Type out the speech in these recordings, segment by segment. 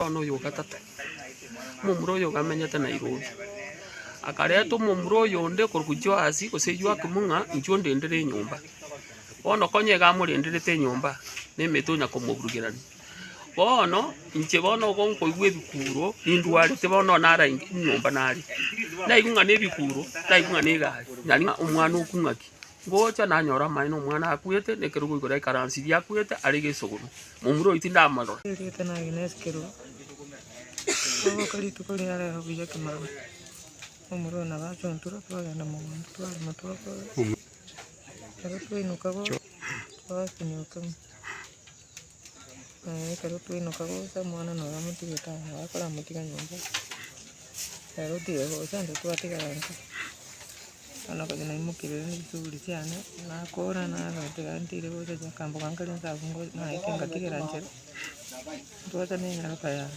Bono oyo o gatato, omomura oyo ogamenyete Nairobi, akareta omomura oyonde korwa Joasi gose Joakim ng'a inchuo ndendere enyomba. Bono konya iga amorenderete enyomba, na emete onya komoburugerania. Bono inche bono igo nkoigwa ebikuro, nindwarete bono nonye nare ain- nyomba nare. Naigwe ng'a na ebikuro, naigwe ng'a na egari, nari ng'a omwana okung'aki. Ngocha nanyore amaene omwana akwete, na ekerogo igoro y'ekaransi eria akwete are gesogoro. Momura oyo tindamorora. Erieta nage nesi kerogo. Togoka rituko ria rero buya kemaroro. Momura oyo nabo achontirwe twagenda mogondo twarema twakora. Ekero twainoka goka twasinyoka ime. Ekero twaimoka gocha omwana na oye amotige tao, na oye akoramotige nyomba. Ekero otige gocha intwe twatigara intwe, bono okonywa naimokeire rende chishughuli chiane, nakora narora tiga ntiri gocha chiakamboka nkaria nsa abwo ngo- naikire ngatigera inche, ntwacha nenyaroka yane.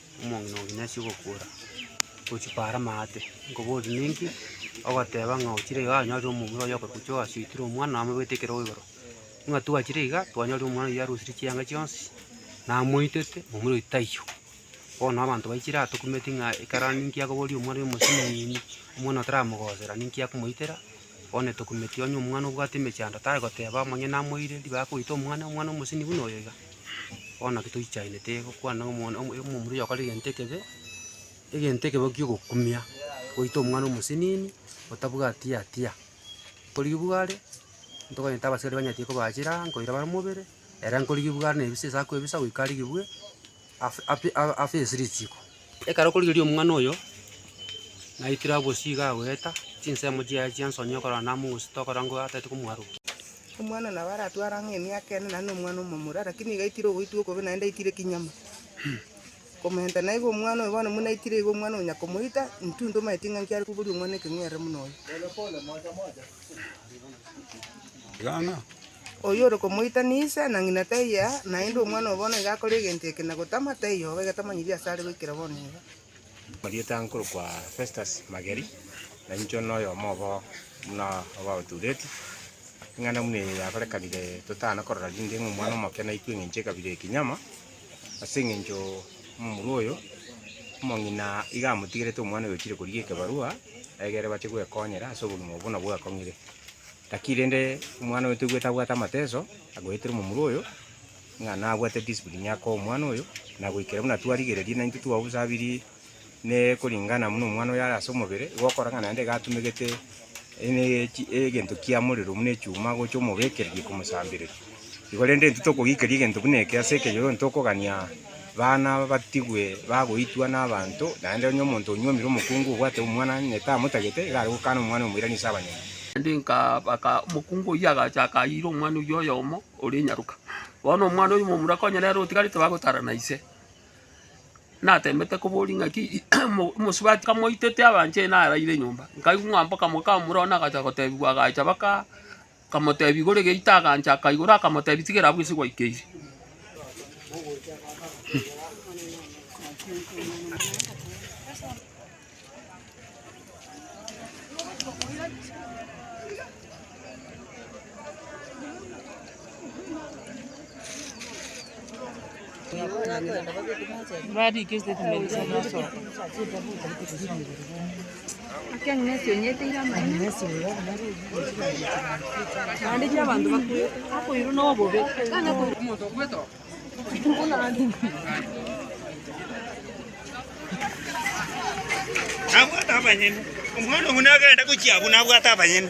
Omong'ina oo ng'ina asie ogokuora, gochia paara amaate, nkoboria ninki? Ogoteba ng'a ochire iga anyorire omomura oyio okoruta chioka asoetire omwana amobwete ekero igoro. Ng'a twachire iga, twanyorire omwana oyio arosirie chianga chionsi, namoitete, omomura oito taiyo. Bono abanto baichire aa tokumeti ng'a ekero aria ninki akoboria omwana oyo omosinyiiini, omwana otaramogosera ninki akomoitera, bono etokumeti onye omwana obwate emechando tari goteba onye namoire ribaga koita omwana, omwana omoseni buna oyo iga. Bono naki toichainete gokwana ng'a omwana omo omomura oyokora egento ekebe, egento ekebe kiogokumia, goita omwana omosenini otabwati hatia. Nkorigigwa are, ntokonyete abasikari banyatie kobaachera, nkoira bare mobere, ere nkorigigwa are na ebise ase akoebisa goika arigigwe, af- afi- a- afesiri chiko. Ekero okorigereria omwana oyo, naikire abwo bosio iga agoeta, chinsemo chiaye chiansoni okorora namogosita okorora ng'o atagete komoarokia. Omwana nabo aratware ang'e emiaka ene, naende nomwana omomura, lakini iga aitire ogoitwa okobe naende aitire ekinyama. Komentana na igo omwana oyo bono buna aitire igo omwana onya komoita, intwe ntomanyeti ng'a nki are koboria omwana ekeng'werere buna oyo. Oyore komoitania ise na ng'ina taiyo aa, naende omwana oyo bono iga akore egento eke na gotama, taiyo obo egetamanyeria ase are goikera bono iga. Marieta nkorokwa Festus mageri, na incho noyomo obo buna obaoturetwe, eng'ana buna eye yakorekanire totana korora rinde ng'a omwana omoke naikwe eng'encho ekabira eye kinyama, ase eng'encho momura oyo omong'ina iga amotigerete omwana oyo ochire korigia ekebarua egere bache gwekonyera ase obogima obo buna bwekong'ire. Gaki rende omwana oyo toigwete abwate amateso agoetera omomura oyo, ng'a nabwate discipline ake omwana oyo, na goikera buna twarigereria naintwe twabusabirie ne koringana buna omwana oyo are ase omobere, igo okora ng'a naende iga atumegete ene- echi- egento kia morero buna echuma gocha omobekereria komosambereria. Igo rende, intwe tokogikeria egento buna eke ase ekenyoro, tokogania baana batigwe bagoitwa nabaanto, naende onye omonto onyuomire omokungu obwate omwana onye tamotagete, iga are gokana omwana omoirani ase abanyene. Naende nkabaka, Omokungu oyio agacha akayiira omwana oyio oyomo ore nyaroka. Bono omwana oyio momura konya nere otigarete bagotara na ise, natemete koboria ng'aki, omosubati kamoitete abanchire naraire nyomba. Nkaigwa ng'a mboka moka momura one agacha gotebigwa agacha baka. Akamotebia, Igore geita. Agancha, akaigora, akamotebia, Tigera abwo, ase gwaikeire. Nabwate abanyene. Omwana ogo nagenda gochia abwo nabwate abanyene.